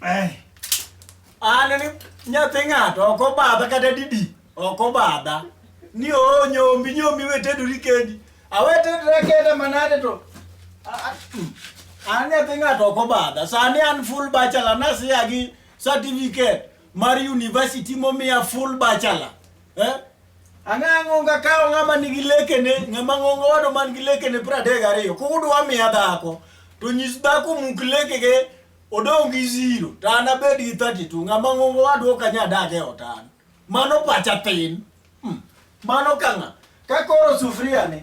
Eh. An ni nyathi ng'ato ok obadha kata didi ok obadha ni oo nyombi nyombi wetedori kendi awetedra kenda manade to a- a- mm. an nyathi ng'ato ok obadha sani an full bachelor nasiya gi certificate mar university momiya full bachelor eh? Ang'ang'o ka kawo ng'ama nigi lekene, ng'ama ng'ongo wado man gi lekene piero adek gariyo, kudwa miya dhako, to nyis dhako muk lekege odong' gi zero, to an abed gi 32, ng'ama ng'ongo wado ok anya dak e ot an. Mano pacha tin. Hmm. Mano ka ng'a? Ka koro sufuria ni,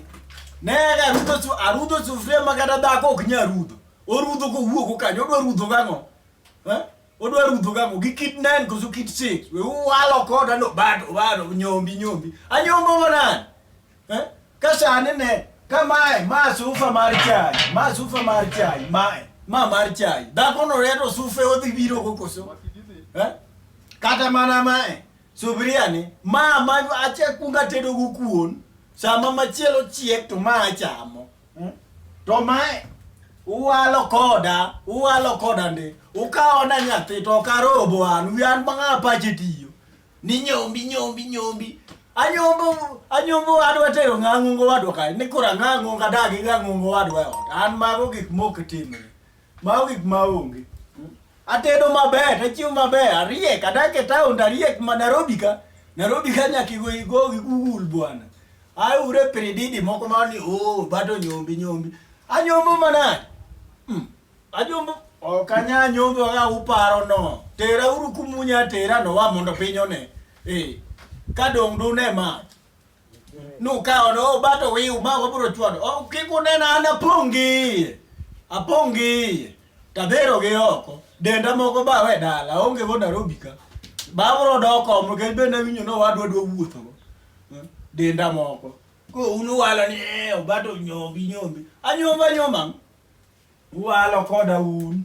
ne arudho, su- arudho sufuria ma kata dhako ok nya rudho. Orudho kowuok kanyo, odwa rudho gang'o? Eh? Odwa rudho gago gi kit nine koso kit six. We walo kota no bado bado nyombi nyombi. Anyombo manan. Eh? Kasane ne kamae ma sufa mar chai, ma sufa mar chai, mae, ma mar chai. Dhako no reto sufe odhi biro go koso. Eh? Kata mana mae. Subiria ni ma ma ache kunga tedo go kuon. Sama machielo chiek to ma achamo. Hmm? To mae uwalo koda, uwalo koda ndi. Ukawo na nyathi to karobo an, wi an bang'a pache tiyo. Ni nyombi nyombi nyombi. Anyombo anyombo wadwa tero ng'ang'o wadwa kae. Ni kora ng'ang'o kadagi ng'ang'o wadwa e ot. An mago gik mok timre. Ma wig ma onge. Atedo maber, achiemo maber, ariek, adak e town, ariek ma Nairobi ka. Nairobi ka nyaka igo igo gi Google bwana. Ai ure pirididi moko ma ni oh bato nyombi nyombi. Anyombo manade. Mm. Anyombo ok anya nyombo ka uparo no. Tera uru kumunya tera no wa mondo piny one. Eh. Ka dong' dune ma. Nukawo no bato wiu ma wabro chwado. Oh, kik unena an apongi. Apongi. Tadhero gi oko. Denda moko ba we dala. Onge go Nairobi ka. Babro doko mo ke bende winyo no wadwa dwa wuotho. Eh, Denda moko. Ko unu walo ni eh, obato nyombi nyombi. Anyomba nyomba. Uwalo koda un.